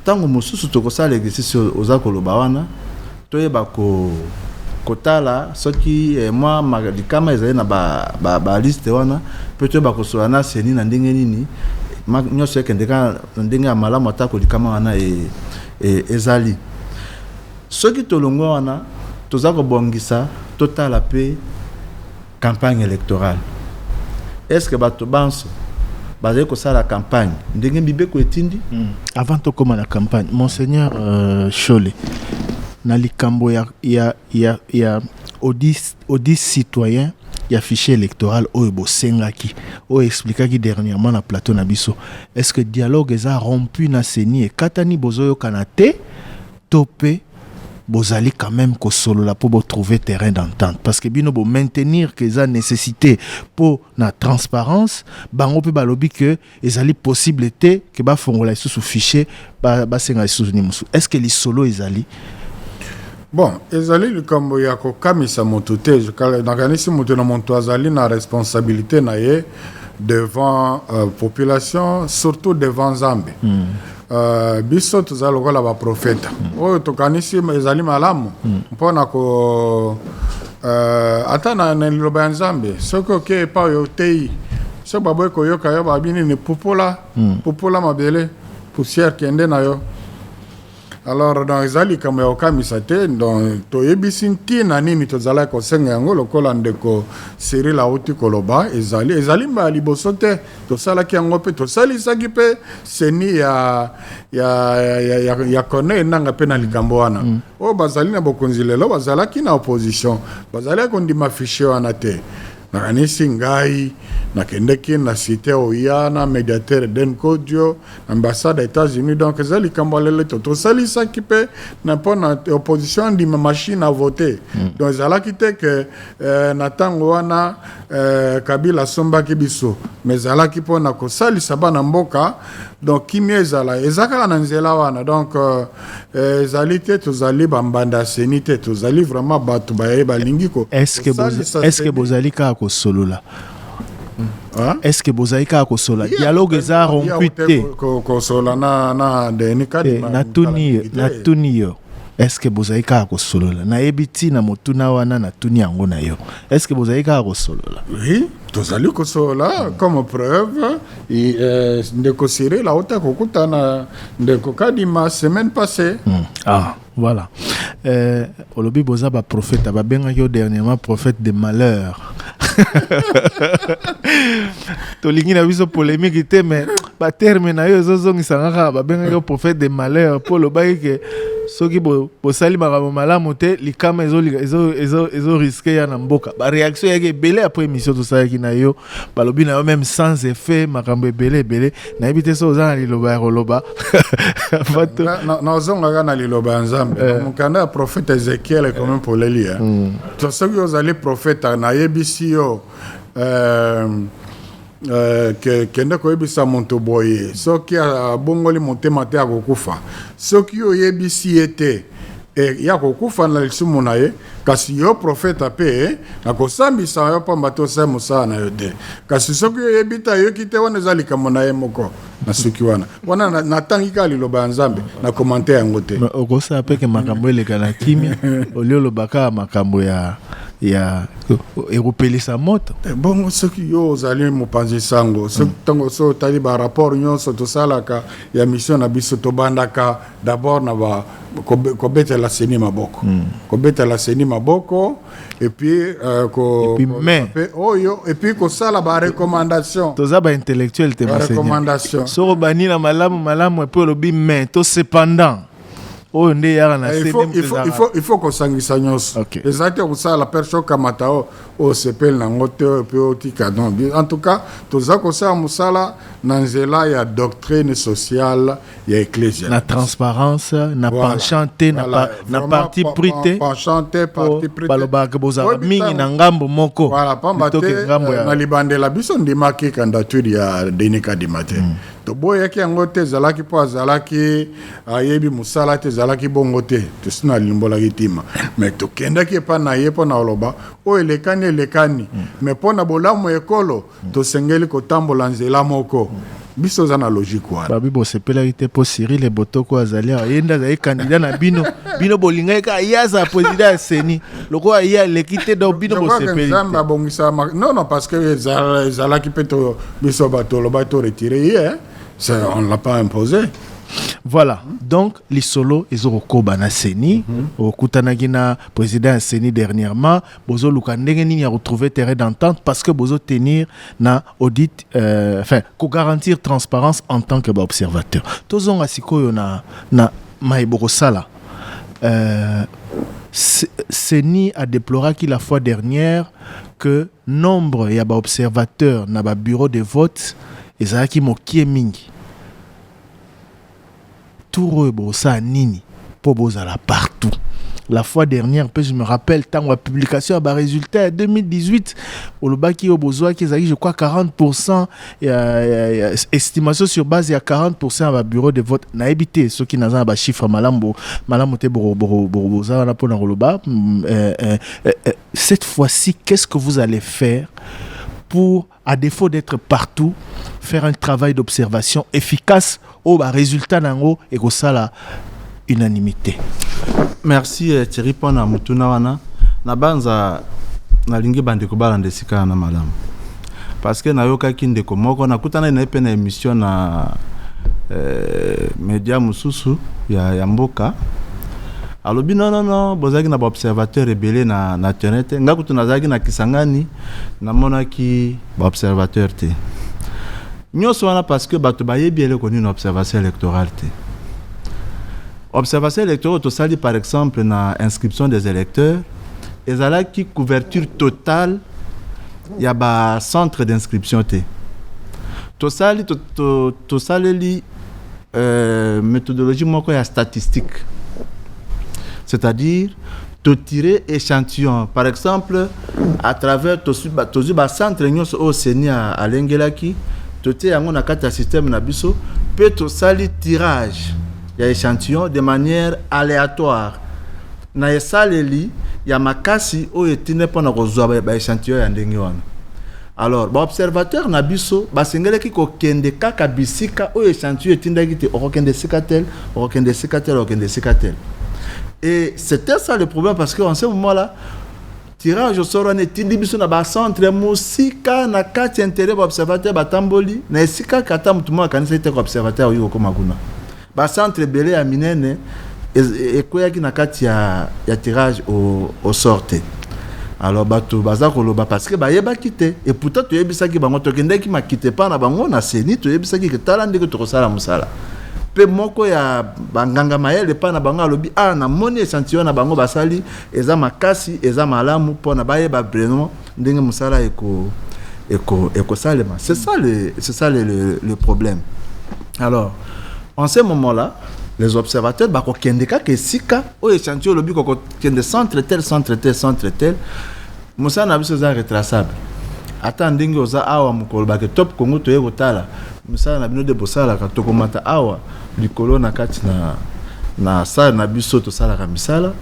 Tango mosusu toko sala exercice oyo oza ko loba wana to yeba ko ko tala soki mwa ma likama ezali na ba ba ba liste wana pe to yeba ko solola na ceni na ndenge nini ma nionso ekende kaka na ndenge ya malamu atako likama wana e ezali. Soki tolongwe wana, toza kobongisa totala pe campagne electorale. Est-ce que bato banso bazali kosala campagne ndenge mibeko etindi? Avant tokoma na campagne, Monseigneur Shole, na likambo ya, ya, ya, ya audit, audit citoyen ya fichier electoral oyo bosengaki, oyo explikaki dernièrement na plateau na biso, est-ce que dialogue eza rompu na ceni, ekatani, bozoyokana te To pe bozali quand meme ko solola po bo trouver terrain d'entente parce que bino bo maintenir que eza necessite po na transparence bango pe balobi que ezali possible te que ba fongola lisusu fichier ba senga lisusu nini mosusu est ce que lisolo ezali? Bon, ezali likambo ya kokamisa moto te, nakanisi moto na moto azali na responsabilite na ye. devant euh, population surtout devant nzambe mm. euh, biso toza lokola baprofeta mm. oyo tokanisi ezali malamu mm. mpo na ko euh, ata na, na liloba ya nzambe soki oke epa oyo oteyi soki baboyi koyoka yo babi nini pupola mm. pupola mabele poussière kende na yo Alors donc eza likambo ya kokamisa te donc toyebisi ntina nini tozalaki kosenga yango lokola ndeko Cyril auti koloba ezali ezali mbala liboso te tosalaki yango mpe tosalisaki mpe seni ya, ya, ya, ya, ya kone enanga mpe na likambo wana mm. oyo bazali na bokonzi lelo bazalaki na opposition bazalaki kondima fichier wana te nakanisi ngai nakendeki na site oya na mediateur den kodio Ambassade ya Etats-Unis donc eza likambo ya lelo to tosalisaki mpe na mpo na opposition andima machine à voter mm. donc ezalaki te ke eh, na ntango wana eh, Kabila asombaki biso mais ezalaki mpo na kosalisa bana mboka donc kimia ezala eza kaka na nzela wana donc euh, eh, ezali eh, te tozali bambanda ya seni te tozali vraiment bato baye balingi kosalisa est ce que bozali kaka kosolola Hein? est ce que bozali kaka kosola yeah, dialogue eza rompu te kosola na, na deni kadi eh, natuni yo est ce que bozali kaka kosolola nayebi ntina motuna wana natuni yango na yo est ce que bozali kaka kosolola oui tozali kosolola comme preuve euh, ndeko siril auta kokutana ndeko kadima semaine passée mm. ah. Voilà. Euh, olobi boza ba prophète babengaki yo dernièrement prophète de malheur tolingi na biso polémique te mais baterme na yo ezozongisanga kaka babengaki yo prophète de malheur mpo olobaki ke soki bosali bo makambo malamu te likama ezoriske ya na mboka baréaction yaki ebele après émission tosalaki na yo balobi na yo meme sans effet makambo ebele ebele nayebi te so oza na liloba ya koloba nazongaka na liloba ya nzambe eh. mokanda ya profete ezekiel ekomi poleli ya hmm. to soki ozali profeta nayebisi yo euh, Euh, ke, kende koyebisa moto boye soki abongoli motema te akokufa soki oyebisi ye te e, ya kokufa na lisumu na ye Kasi yo profeta mpe nakosambisa yo mpamba te osali mosala na yo te. Kasi soki yo oyebi te, ayoki te, wana eza likambo na ye moko. Nasuki wana. Wana na- natangi kaka liloba ya Nzambe, na komante yango te. Mais okosala mpe ke makambo eleka na kimia olio oloba kaka makambo ya ya ekopelisa moto Eh, bongo soki yo ozali mopanzi sango soki ntango so otali barapport nyonso tosalaka ya mission na biso tobandaka d'abord na ba kobeta la CENI maboko hmm. kobeta la CENI maboko et puis euh, ko mais oyo et puis ko sala ba recommandation toza ba intellectuel te ba recommandation soko bani na malamu malamu et puis lobi mais to cependant oyo nde eyaka na eh, il faut kosangisa nyonso eza te kosala perso okamata o osepeli nango te mpe otika don en tout cas toza kosala mosala na nzela ya doctrine sociale ya eklezia na transparence na voilà. penchant te na, voilà. na parti pris te penchant te parti pris te balobaka bozalaka mingi na ngambo moko voilà pamba te eh, ngambo ya na libandela biso ndimaki candidature ya Denis Kadima te mm. toboyaki yango te ezalaki mpo azalaki ayebi mosala te ezalaki bongo te tosi nalimbolaki ntima me tokendaki epai na ye mpo na koloba oyo elekani elekani mm. me mpo na bolamu ekolo Tosengeli kotambola nzela moko. Biso toza na logique wana. Babi bosepelaki te mpo Cyril Ebotoko azali awa, ye nde azali candidat na bino. Bino bolingaki kaka ye azala president ya CENI. Lokola ye aleki te donc bino bosepeli te. Nzambe abongisa makambo. Non non parce que ezalaki mpe biso bato tolobaki to retire ye. On ne l'a pas imposé. Voilà. Donc, lisolo ezo kokoba na CENI. Mhm. Okutanaki na président ya CENI dernièrement. bozo luka ndenge nini ya retrouver terrain d'entente parce que bozo tenir na audit euh, enfin ko garantir transparence en tant que ba observateur tozonga sikoyo na na maye bokosala euh, CENI a déploré qu'il la fois dernière que nombre ya ba observateur na ba bureau de vote ezalaki mokie mingi Tour oyo bokosala nini mpo bozala partout? La fois dernière mpe je me rappelle ntango ya publication ya ba résultats ya 2018 olobaki oyo bozwaki ezalaki je crois 40% ya, ya, ya estimation sur base ya 40% ya ba bureau de vote nayebi te soki naza na ba chiffre malamu malamu te boza wana mpo na koloba mm, euh, euh, euh, cette fois-ci qu'est-ce que vous allez faire pour à défaut d'être partout, faire un travail d'observation efficace au ba résultat nango et que ça la unanimité. Merci euh, Thierry Pona Mutuna wana. Na banza na lingi bande ko balande sikana na madame. Parce que na yoka ki ndeko moko na kutana na pe na émission na euh, média mususu ya, ya mboka alobi non non non bozaki na ba observateur ebele na na terrain te ngakutu nazaki na Kisangani namonaki ba observateur te nyonso wana parce que bato bayebi eleko nini observation électorale te observation électorale tosali par exemple na inscription des électeurs ezalaki couverture totale ya ba centre d'inscription te tosali tosaleli euh, méthodologie moko ya statistique c'est-à-dire to tirer échantillon par exemple à travers tozwi bacentre nyonso oyo seni alengelaki totie yango na kati ya système na biso mpe tosali tirage ya échantillon de manière aléatoire na esaleli ya makasi oyo etinde mpo na kozwa baéchantillon ya ndenge wana Alors, ba observateur na biso basengelaki kokende kaka bisika oyo echantillon etindaki te okokende esika tel okokende esika tel okokende esika tel et c'était ça le problème parce que en ce moment là tirage au sort wana etindi biso na bacentre mosika na kati ya intere baobservateur batamboli na esika kata motu moko akanisaki te koobservateur akoki kokóma kuna Ba centres ebele ya minene ekweyaki na kati ya, ya tirage au, au sort te. Alors bato baza koloba parce que bayebaki te et pourtant toyebisaki bango, tokendaki makita epai na bango na CENI, toyebisaki ke tala ndenge tokosala mosala mpe moko ya banganga mayele epai na bango alobi ah, namoni echantillon na bango basali eza makasi, eza malamu mpona bayeba vraiment ndenge mosala eko eko ekosalema c'est ça le c'est ça le, le, le problème alors en ce moment là les observateurs bakokende kaka esika oyo echantio olobi kokokende centre tel centre tel centre tel mosala na biso eza retraçable ata ndenge oza awa mokolo bake top congo toye kotala misala na bino nde bosalaka tokomata awa likolo na kati na na sale na biso tosalaka misala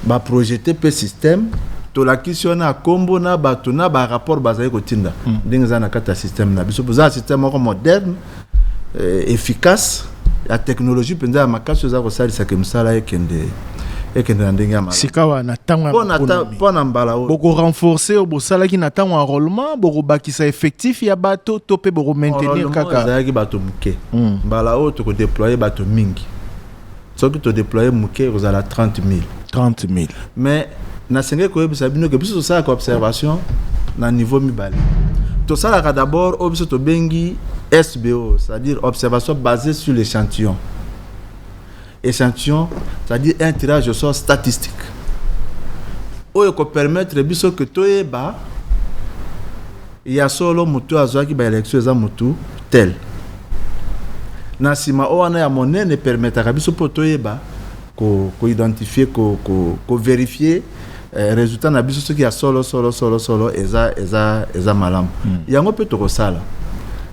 ba projete pe système tolakisi wana kombo na bato na ba rapport bazali kotinda mm. ndenge eza na kati ya système na biso boza na système moko moderne euh, efficace ya technologie mpenza ya makasi oyo eza kosalisa ke mosala ekende ekende na ndenge ya malamu sikawa na ntango mpo na mbala oyo bokorenforce oyo bosalaki na ntango enrôlement bokobakisa effectif ya bato to mpe bokomaintenir kaka ezalaki bato moke mm. mbala oyo tokodeploye bato mingi Soki to deployer muke ekozala 30000. 30000. Mais nasengeli koyebisa bino ke biso tosalaka observation na niveau mibale. Tosalaka d'abord oyo biso tobengi SBO, c'est-à-dire observation basée sur l'échantillon. Échantillon, c'est-à-dire un tirage au sort statistique. Oyo ko permettre biso que toyeba Ya solo mutu oyo azuaki ba elections eza mutu tel. Na sima oyo wana ya monene e permettaka biso mpo toyeba ko ko identifier ko ko ko verifier eh, resultat na biso soki ya solo solo solo solo eza eza eza malamu. Hmm. Yango mpe tokosala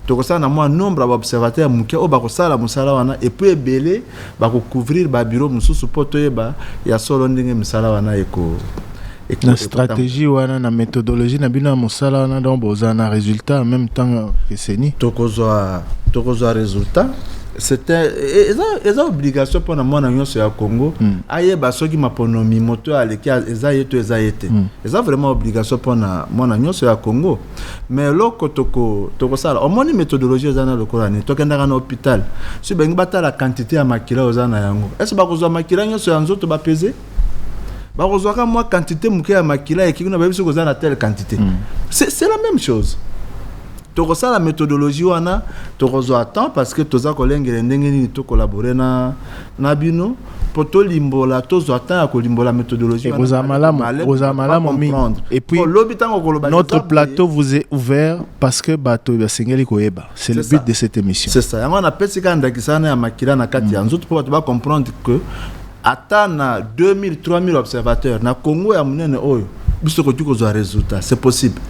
tokosala na mwa nombre ya baobservateur ya moke oyo bakosala mosala wana epuis ebele Bako couvrir ba bureau mususu po toyeba ya solo ndenge misala wana eko na stratégie wana na methodologie na bino ya mosala wana donc bozala na résultat en même temps que seni tokozwa tokozwa résultat c'était eza eza obligation mpo na mwana nyonso ya congo mm. ayeba soki maponomi moto aleki eza ye to eza ye te mm. eza vraiment obligation mpo na mwana nyonso ya congo mais eloko toko tokosala omoni methodologie oza na lokola nini tokendaka na hôpital soki balingi batala quantité ya makila oza na yango ese bakozwa makila nyonso ya nzoto bapeze bakozwaka mwa quantité moke ya makila ekiki na bayebi soki oza na telle quantité mm. c'est c'est la même chose tokosala methodologie wana tokozwa temps parce que toza kolengele ndenge nini tokolabore na na bino mpo tolimbola tozwa temps ya kolimbola methodologie wana ekozala malamu Malem, ekozala ba malamu mingi comprendre. et puis Mpo lobi ntango okoloba notre likambo plateau vous est ouvert parce que bato basengeli koyeba c'est le C'est but ça. de cette émission c'est ça yango wana apesi kaka ndakisa wana ya makila na kati ya nzoto mpo bato bacomprendre que ata na 2000 3000 observateurs na congo ya monene oyo biso tokoki kozwa résultat c'est possible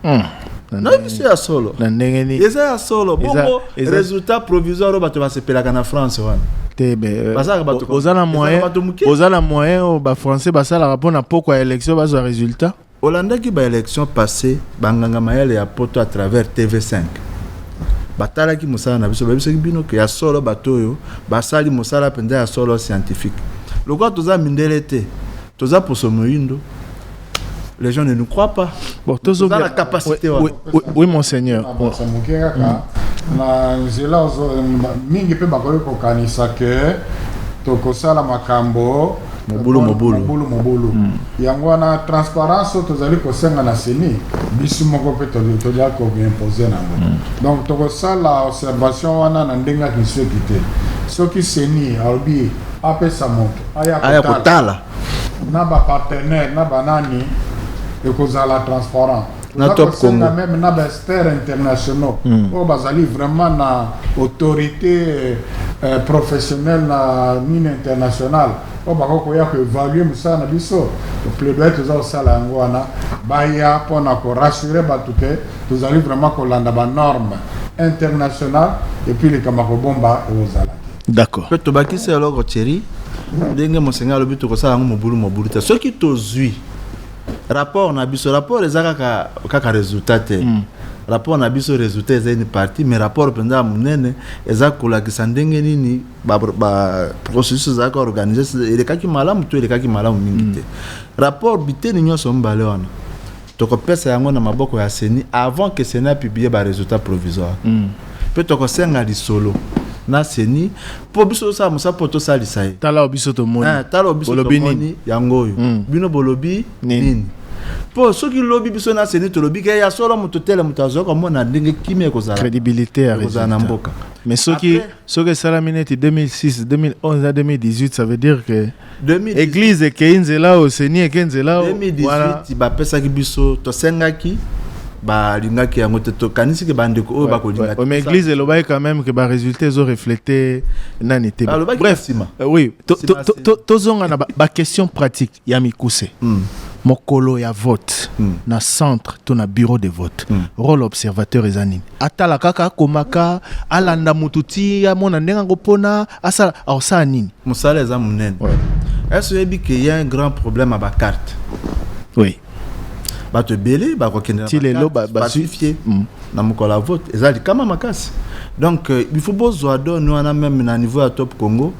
na nayebi biso ya solo na ndenge nini eza ya solo Eza- bongo Resultat provisoire oyo bato basepelaka na France wana te euh, bazalaka bato oza na moyen oza na moyen oyo bafrançais basalaka mpo na pokwa ya élection bazwa résultat olandaki baélection passé banganga mayele ya poto à travers tv5 batalaki mosala na biso bayebisaki bino ke ya solo bato oyo basali mosala mpenza ya solo scientifique lokola toza mindele te toza poso moyindo les gens ne nous croient pas. Bon, tous la capacité. Oui, oui, oui, monseigneur. Ah, bon. na nzela mingi mpe bakoki kokanisa ke tokosala makambo mobulu mobulu mobulu mobulu mm. yango wana transparence oyo tozali kosenga na seni biso moko mpe tolia koimpose nango mm. donc tokosala observation wana na ndenge ya kinseki te soki seni alobi apesa moto aya kotala na ba partenaires na ba nani ekozala transparent na top congo même na ba experts internationaux mm. oyo bazali vraiment na autorité euh, professionnelle na nini internationale oyo bakoki koya koevalue mosala na biso plaidoyer toza kosala yango wana baya mpona korassure bato te tozali vraiment kolanda banorme internationale epuis likambo ya kobomba ekozala d'accord mpe tobakisi eloko cheri ndenge monseigneur alobi tokosala yango mobulu mobulu te soki tozwi rapport na biso rapport eza kaka, kaka résultat te mm. rapport na biso résultat eza une partie mais rapport mpenza ya monene eza kolakisa ndenge nini baprocessus ba, ezalaka organise elekaki malamu to elekaki malamu mingi mm. te mm. rapport biteni nyonso mibale wana Toko pesa yango na maboko ya ceni avant que ceni a publier ba resultats provisoires. Mpe toko senga lisolo na ceni mpo biso tozo sala mosala mpo to salisa ye. Tala oyo biso to moni. Eeh tala oyo biso to moni yango oyo bino bo lobi nini? Mpo soki lobi biso na ceni to lobi ke ya solo moto tel moto azo ko mona ndenge kimia eko zala. Credibilite ya resultat. Mais soki soki esalami neti 2006, 2011 na 2018 ça veut dire que. 2018 eglise ekei nzela oyo seni eke nzela oyo wana 2018 bapesaki biso tosengaki balingaki yango te tokanisi ke bandeko oyo bakolinga Ouais, mais église elobaki quand même que ba résultats ezo refléter nani te Balobaki bref na nsima. euh, oui to- Nsima, to- to- nsima. to- tozonga na ba- ba question pratique ya mikuse Hmm. mokolo ya vote Hmm. na centre to na bureau de vote Hmm. rôle observateur eza nini atala kaka akomaka alanda motu ti amona ndenge akopona asala akosala nini mosala eza monene ese oyebi ke ya un grand problème ya bacarte oui bato ebele bakokende ti lelo basifie mm. na mokolo ya vote eza likama makasi donc euh, il faut bozwa done wana meme na niveau ya top congo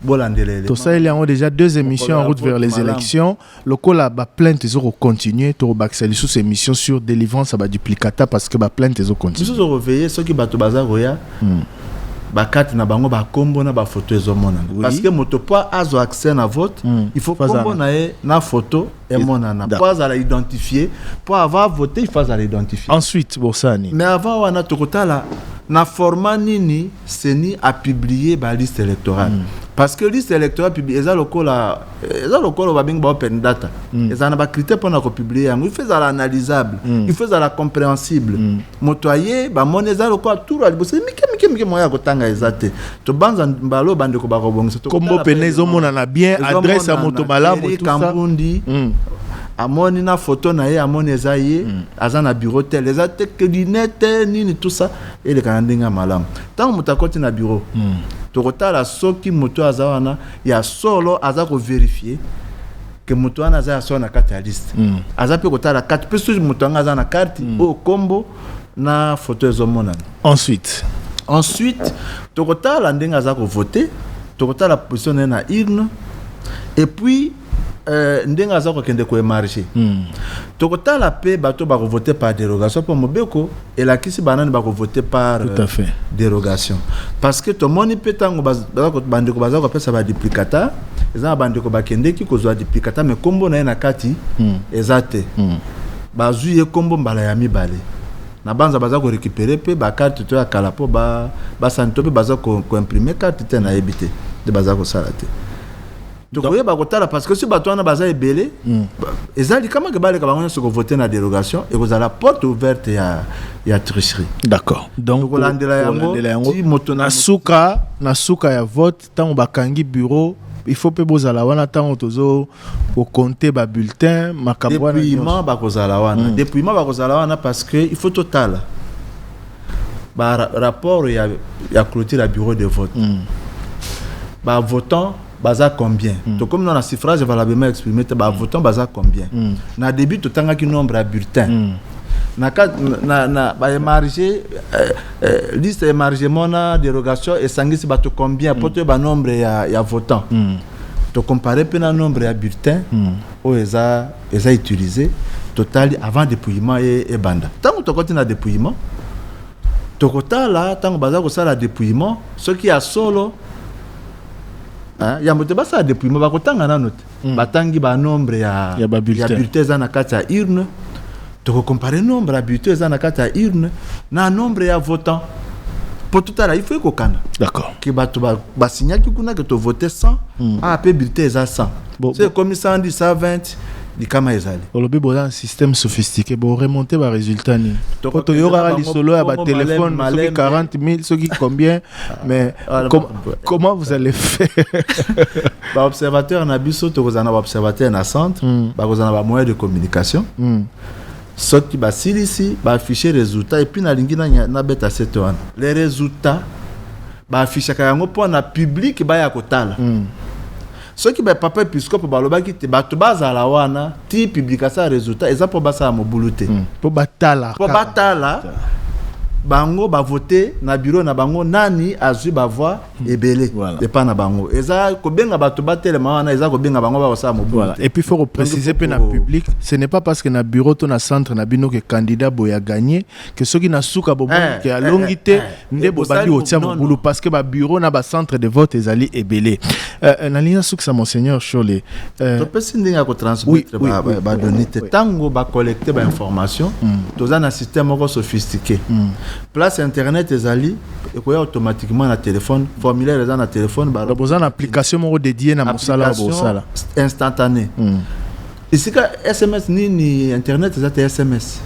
bolandela tosaleli yango déjà deux émissions en route vers les élections Lokola ba plaintes ezo ko continuer, toko bakisa lisusu emission sur delivrance ya ba duplicata parce que ba plaintes ezo continuer. Biso tozo veiller soki batu baza koya, ba cartes na bango, ba kombo na ba photos ezo monana. Parce que moto po azwa accès na vote, il faut kombo na ye na photo emonana po azala identifier, po avant a voter il faut azala identifier. Ensuite bosala nini? Mais avant wana toko tala na format nini ceni a publier ba listes electorales. Parce que liste electorale eza lokola. Eh, eza lokola oyo babengi baopen data mm. ezala na bacritère mpona kopublie yango il faut ezala analysable mm. il faut ezala compréhensible mm. moto aye bamoni eza lokola tour ya liboso mike mike mike moya ya kotanga eza te tobanza mbala oyo bandeko bakobongisa kombo pene ezomonana bien adresse ya moto malamu kambundi mm. amoni na foto na ye amoni eza ye mm. aza na bureau tel eza te lunete nini tout ça elekana ndenge ya malamu ntango moto akoti na bureau mm. tokotala soki moto aza wana ya solo aza ko verifier ke moto wana aza ya solo na kati ya liste mm. aza mpe kotala kati mpe soki moto yango aza na karte mm. oyo nkombo na foto ezomonana ensuite ensuite tokotala ndenge aza kovote tokotala position na ye na urne et puis Euh, ndenge aza kokende koemarge mm. tokotala mpe bato bakovote par dérogation mpo mobeko elakisi banani bako vote par Tout à euh, fait. dérogation parce que tomoni mpe ntango baz- baza ko- bandeko baza kopesa baduplicata eza na bandeko bakendeki kozwa duplicata me nkombo na ye na kati Mm. eza te Mm. bazwi ye nkombo mbala ya mibale na banza baza korécupere mpe bakarte to ya kala mpo ba- basani to mpe baza ko- koimprime karte te nayebi te nde baza kosala te tokoyeba kotala parce que si bato wana baza ebele hmm. eza likama ke baleka bango nyonso kovote na dérogation ekozala porte ouverte ya, ya tricherie d'accord donc kolandela yango ti moto na suka na suka ya vote ntango bakangi bureau il faut mpe bozala wana ntango tozo kokonte babulletin makambo wana dépouillement bakozala wana hmm. dépouillement bakozala wana parce que il faut totala ba rapport ya, ya clôture ya bureau de vote mm. ba votant baza combien mm. tokomi na suffrage valablement exprimé te ba votant baza combien mm. na début totangaki nombre ya bulletin mm. na na na ba émargé euh, euh, liste émargement na dérogation esangisi bato combien mm. po toyeba nombre ya, ya votant mm. tocompare mpe na nombre ya bulletin mm. oyo eza eza utilisé totali avant dépouillement ye ebanda ntango tokoti na dépouillement tokotala ntango baza kosala dépouillement soki ya solo Hein? yambo te basala dépouillement bakotanga nano te mm. batangi ba nombre ya, ya bulletin eza na kati ya urne tokocompare nombre ya bulletin eza na kati ya urne na nombre ya votant mpo totala il faut ekokana d'accord ke bato basignaki ba kuna ke tovote 100 mm. ah mpe bulletin eza 100 bon, so ekomi 110 120 likama ezali olobi boza na système sophistiqué boremonte baresultat nini mpo toyokaka lisolo ya batelefone soki 40 000 soki combien mais ah, com comment vous allez faire baobservateur na biso tokozala na baobservateur na centre mm. bakozala na bamoyen de communication mm. soki basilisi baaffiche résultat epuis nalingi nabeta sete wana le résultat baaffichaka yango mpo na publike baya kotala mm. soki ba papa episkopo balobaki te bato bazala wana ti publication ya resultat eza mpo basala mobulu te hmm. mpo batala mpo batala bango bavote na biro na bango nani azwi bavoi hmm. ebele voilà. epai na bango eza kobenga bato batelema wana eza kobenga bango bakosala mobulu voilà. epuis faut koprécise mpe na public ce n'est pas parce que na bureau to na centre na bino ke candidat boye agagné que soki na suka bomoni eh, ke alongi eh, te eh, nde bobandi kotia mobulu parce que babureau na bacentre de vote ezali ebele nalingi nasukisa monseigneur shole topesi ndenge ya kotransmettre badonne te ntango bacollecte bainformation hmm. toza na système moko sophistiqué hmm. place internet ezali ekoya automatiquement na téléphone formulaire eza na téléphone boza na application moko dédié na mosala bosala instantané hmm. esika sms nini internet eza te sms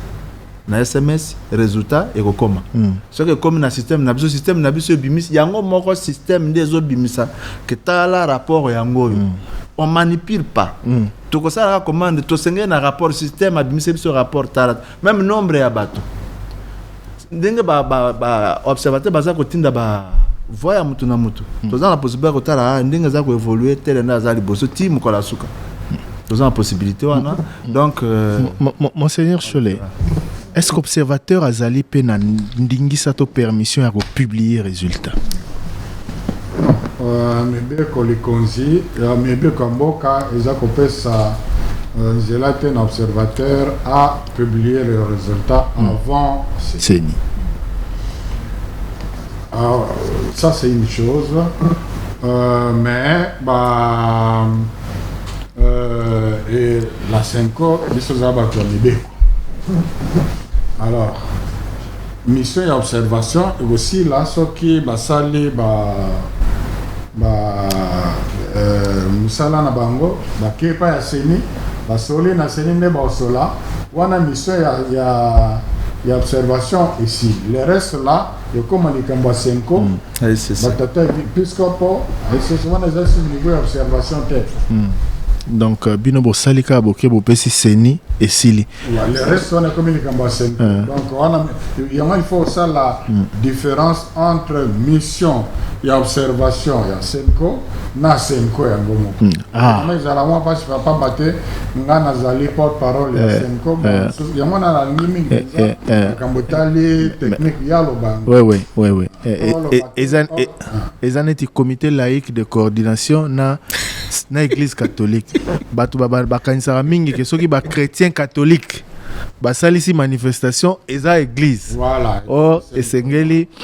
na sms resultat ekokoma mm. soki ekomi na système na biso système na biso ebimisi yango moko système nde ezobimisa ke tala rapport yango oyo mm. on manipule pas mm. tokosalaka commande tosengeli na rapport système abimisi biso rapport tala même nombre ya bato ndenge baobservateur ba, ba, baza kotinda ba voi ya motu na motu mm. toza na possibilité ya kotala ah, ndenge aza koévolue tele nde aza liboso ti mokolo ya suka toza na possibilité wana Donc, euh... Monseigneur Cholet, est-ce qu'observateur azali pe na ndingisa to permission ya ko publier résultat? Euh, mibeko likonzi ya mibeko ya mboka eza kopesa euh, nzela te na observateur a publier le résultat hmm. avant ceni ah, ça c'est une chose euh, mais bah, Euh, et la Senco, biso toza bato ya mibeko. Alors, mission ya observation ekosila soki basali ba ba euh, mosala na bango bakei epai ya seni basoli na seni nde baosola wana mission ya, ya, ya observation esili le reste là ekoma likambo ya senko mm. batata episcopo esese wana eza si niveau ya observation te mm. donc euh, bino bosali kaka boke bopesi seni esili le reste wana ekomi likambo ya seni euh. donc wana yango il faut osala mm. différence entre mission ya observation ya senko na senko yango moko Ah. Vraiment ezala mwa mpasi papa pamba te ngai nazali porte parole ya eh, Senko eh. yango wana nalingi mingi eh, mpenza makambo etali technique ya loba eza neti comité laïque de coordination na na église catholique bato bakanisaka mingi ke soki bachrétien catholique basalisi manifestation eza église voilà. or esengeli oh,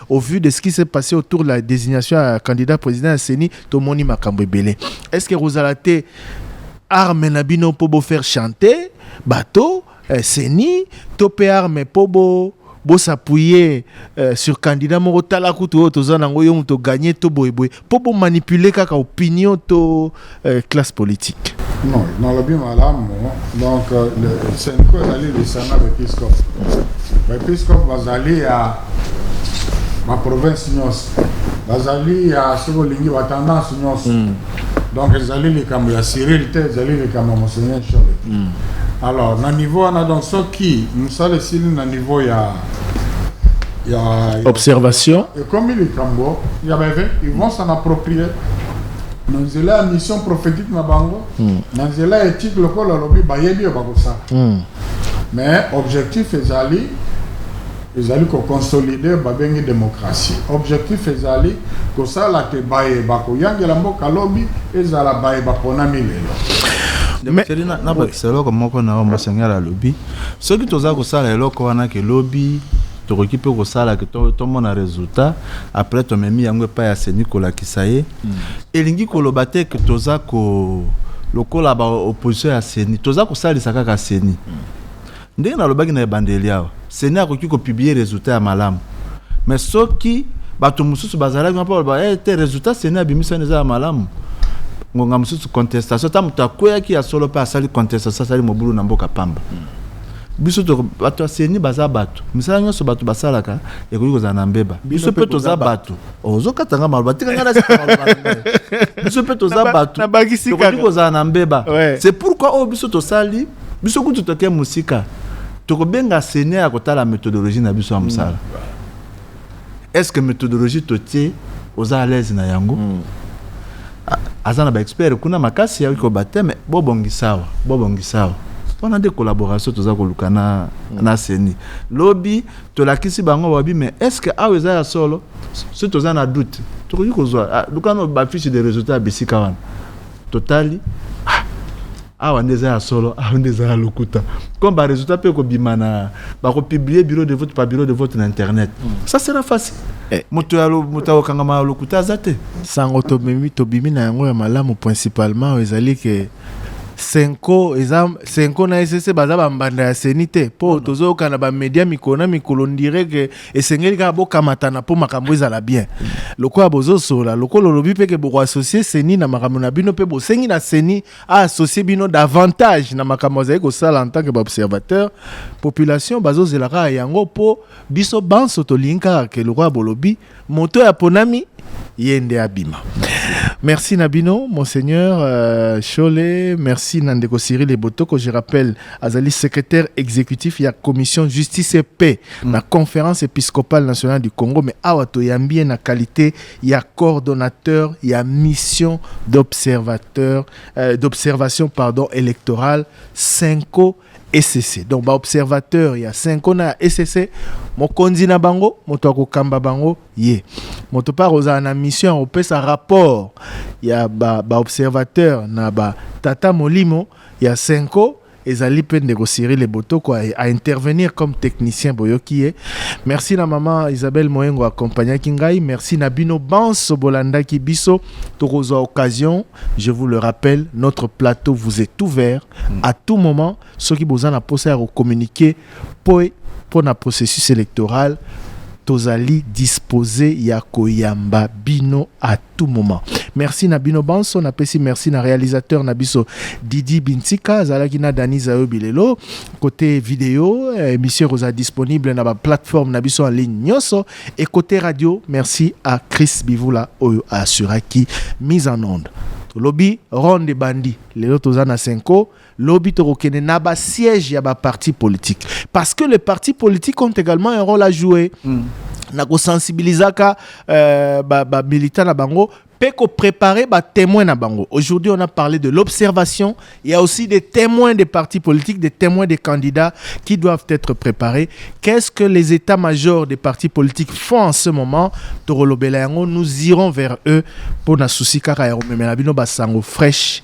Au vu de ce qui s'est passé autour de la designation ya candidat président ya CENI, tomoni makambo ebele. Est-ce que ekozala te arme na bino mpo bo faire chanter bato eh, CENI to mpe arme mpo bo bosappuye eh, sur candidat moko tala kutu oyo toza nango yo moto gagne to boyeboye mpo bo manipuler kaka opinion to euh, classe politique non nalobi malamu donc euh, senko ezali lisanga baepiskope baepiskope bazali ya baprovince nyonso bazali ya soki olingi batendance nyonso hmm. donc ezali likambo ya cyril te ezali likambo ya monseigneur chole hmm. alors na niveau wana donc soki mosala esili na niveau ya observation ekomi likambo ya beve ils vont s'en approprier na nzela ya mission prophétique na bango hmm. na nzela ya éthique lokola alobi bayebi oyo bakosala hmm. mais objectif ezali ezali koconsolide babengi démocratie objectif ezali kosala te baye bakoyangela mboka lobi ezala baye baponami lelo nabakisa eloko moko na oyo mosengeli alobi Soki toza kosala eloko wana ke lobi tokoki mpe kosala ke tomona resultat après tomemi yango epai ya seni kolakisa ye mm. elingi koloba te ke toza ko lokola ba opposition ya seni toza kosalisa kaka seni mm. ndenge nalobaki na ebandeli awa seni akoki kopiblie resultat ya malamu mais soki bato mosusu bazalaki mpo baloba eh, te résultat seni abimisani eza ya malamu ngonga mosusu contestation ata moto akweyaki ya solo mpe asali contestation asali mobulu na mboka pamba hmm. biso bato ya seni baza bato misala nyonso bato basalaka ekoki kozala na mbeba biso mpe toza bato oh, ozokata nga maloba tika nga biso mpe toza bato tokoki kozala na mbeba c'est pourquoi oyo oh, biso tosali biso kutu toke mosika Tokobenga Seigneur ya kotala methodologie na biso ya mosala. Mm. Est-ce que methodologie totie oza à l'aise na yango? Mm. Aza na ba experts kuna makasi ya ko bateme bobongisawa, bobongisawa. wana nde collaboration toza koluka na, mm. na seni lobi tolakisi bango wabi mais est ce que awa eza ya solo soki toza na doute tokoki kozwa ah, lukano bafiche de résultat ya bisika wana totali Awa nde eza ya solo, awa nde eza ya lokuta. Comme ba resultats pe ko bima na ba ko publier bureau de vote par bureau de vote na internet. Mm. Ça sera facile. Eh. Moto ya moto ya kokangama ya lokuta aza te. Sango tobimi tobimi na yango ya malamu principalement ezali ke senko eza senko na esese baza bambanda ya seni te mpo tozoyokana bamedia mikolo na mikolo ndire ke esengeli kaka bokamatana mpo makambo ezala bien lokola bozosolola lokola olobi mpe ke bokoassocie seni na makambo na bino mpe bosengi na seni associe bino davantage na makambo azali kosala en tant que baobservateur population bazozela kaka yango mpo biso banso tolingi kaka ke lokola bolobi moto oyo aponami ye nde abima merci na bino monseigneur euh, shole merci na ndeko cyril ebotoko je rappelle azali secrétaire exécutif ya commission justice et paix na conférence épiscopale nationale du congo mais awa toyambi ye na qualité ya coordonnateur ya mission d'observateur euh, d'observation pardon électorale Senko ECC donc ba observateur ya Senko na ECC mokonzi na bango moto akokamba bango ye moto mpe akozala na mission ya kopesa rapport ya ba, ba observateur na ba tata molimo ya Senko Ezali pe ndeko Cyrille Botoko a intervenir comme technicien boyoki ye. Merci na maman Isabelle Moengo accompagnaki ngai. Merci na bino banso bolandaki biso. Tokozwa occasion, je vous le rappelle, notre plateau vous est ouvert à tout moment soki boza na posa ya ko communiquer po mpo na processus électoral tozali disposer ya koyamba bino à tout moment merci na bino banso napesi merci na réalisateur na biso didi bintika azalaki na dani zayo bilelo côté vidéo eh, émission ekozala disponible na baplateforme na biso en ligne nyonso et côté radio merci à chris bivula oyo assuraki mise en onde tolobi ronde bandi lelo toza na senko Lobi tokokende na ba siège ya ba partis politiques parce que les partis politiques ont également un rôle à jouer. Mm. na kosensibilisaka euh, bamilita ba na bango mpe koprépare batémoin na bango aujourd'hui on a parlé de l'observation il y a aussi des témoins des partis politiques des témoins des candidats qui doivent être préparés qu'est-ce que les états majors des partis politiques font en ce moment tokolobela yango nous irons vers eux mpo na souci kaka ya komemela bino basango fraîche